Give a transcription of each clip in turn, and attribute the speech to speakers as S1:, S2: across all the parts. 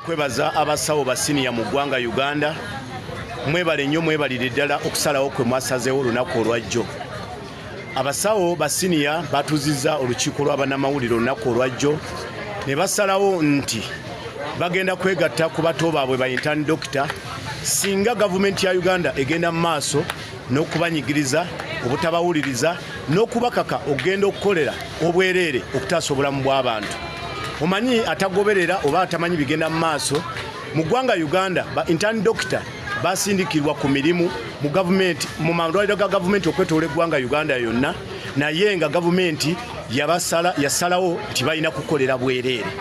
S1: kwebaza abasawo ba siniya mu ggwanga uganda mwebale nnyo mwebalire ddala okusalawo kwe mwasazeewo olunaku olwajjo abasawo ba siniya batuziza olukiiko lw'abanamawulire olunaku olwajjo ne basalawo nti bagenda kwegatta ku bato baabwe ba intani dokita singa gavumenti ya uganda egenda mu maaso n'okubanyigiriza obutabawuliriza n'okubakaka okugenda okukolera obwereere okutaasa obulamu bw'abantu omanyi atagoberera oba atamanyi bigenda mu maaso mu ggwanga uganda ba intern doctor basindikirwa ku mirimu mu gavumenti mu malwaliro ga gavumenti okwetoola eggwanga uganda yonna naye nga gavumenti yabasala yasalawo nti balina kukolera bwereere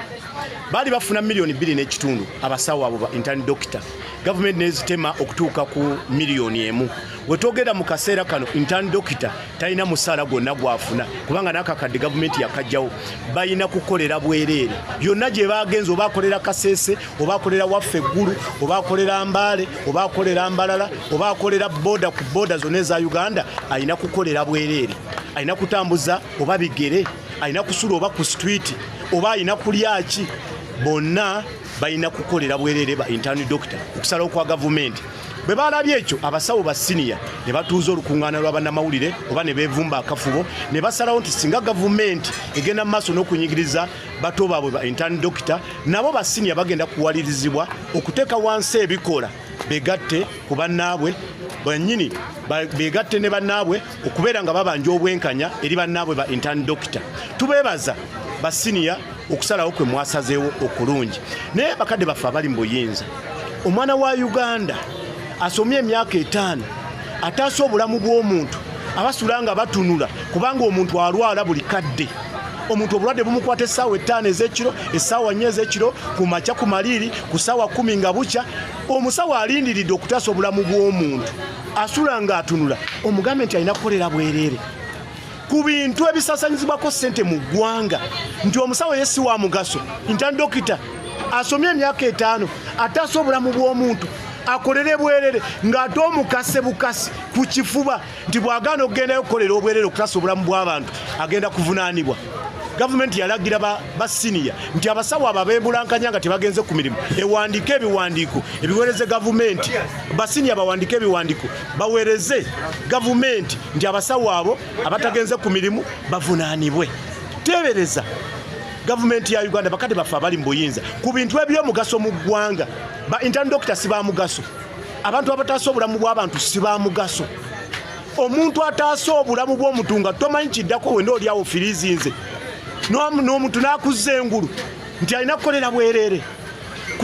S1: baali bafuna miliyoni bbiri n'ekitundu abasawo abo ba intern doctor gavumenti nezitema okutuuka ku miliyoni emu wetwogera mu kaseera kano intern dokita talina musaala gwonna gwafuna kubanga nakakadde gavumenti yakajjawo balina kukolera bwereere yonna gye bagenza oba akolera kasese oba akolera waffe eggulu oba akolera mbaale oba akolera mbalala oba akolera boda ku boda zonna eza uganda alina kukolera bwereere alina kutambuza oba bigere alina kusula oba ku situiti oba alina kulyaki bonna balina kukolera bwerere ba intern doctor okusalawo kwa gavumenti bwe balabye ekyo abasawo ba siniya ne batuuza olukuŋŋaana lw'abannamawulire oba ne beevumba akafubo ne basalawo nti singa gavumenti egenda mu maaso n'okunyigiriza bato baabwe ba intern doctor nabo ba siniya bagenda kuwalirizibwa okuteeka wansi ebikola begatte ku bannaabwe banyini begatte ne bannaabwe okubeera nga babanja obwenkanya eri bannaabwe ba intern doctor tubeebaza basiniya okusalawo kwe mwasazeewo okulungi naye bakadde baffe abali mu buyinza omwana wa uganda asomye emyaka etaano ataasa obulamu bw'omuntu abasula nga batunula kubanga omuntu alwala buli kadde omuntu obulwadde bumukwata essaawa ettaano ez'ekiro essaawa nnya ez'ekiro ku makya ku maliiri ku ssaawa kumi nga bukya omusawo alindiridde okutaasa obulamu bw'omuntu asula ng'atunula omugambe nti alina kukolera bwereere ku bintu ebisasanyizibwako sente mu ggwanga nti omusawo ye si wa mugaso nti dokita asomye emyaka etaano ataasa obulamu bw'omuntu akolere bwerere ng'ate omukase bukasi ku kifuba nti bw'agaana okugendayo okukolera obwerere okutaasa obulamu bw'abantu agenda kuvunaanibwa gavumenti yalagira ba siniya nti abasawo abo abebulankanya nga tebagenze ku mirimu ewandiika ebiwandiiko ebiwereze gavumenti basiniya bawandiika ebiwandiiko baweereze gavumenti nti abasawo abo abatagenze ku mirimu bavunaanibwe teebereza gavumenti ya uganda bakadde baffe abali mu buyinza ku bintu ebyomugaso mu ggwanga ba intern dokita si ba mugaso abantu abataasa obulamu bw'abantu si ba mugaso omuntu ataasa obulamu bw'omuntu nga tomanyi kiddako wena olyawo firiizinze n'omuntu n'akuzza engulu nti alina kukolera bwereere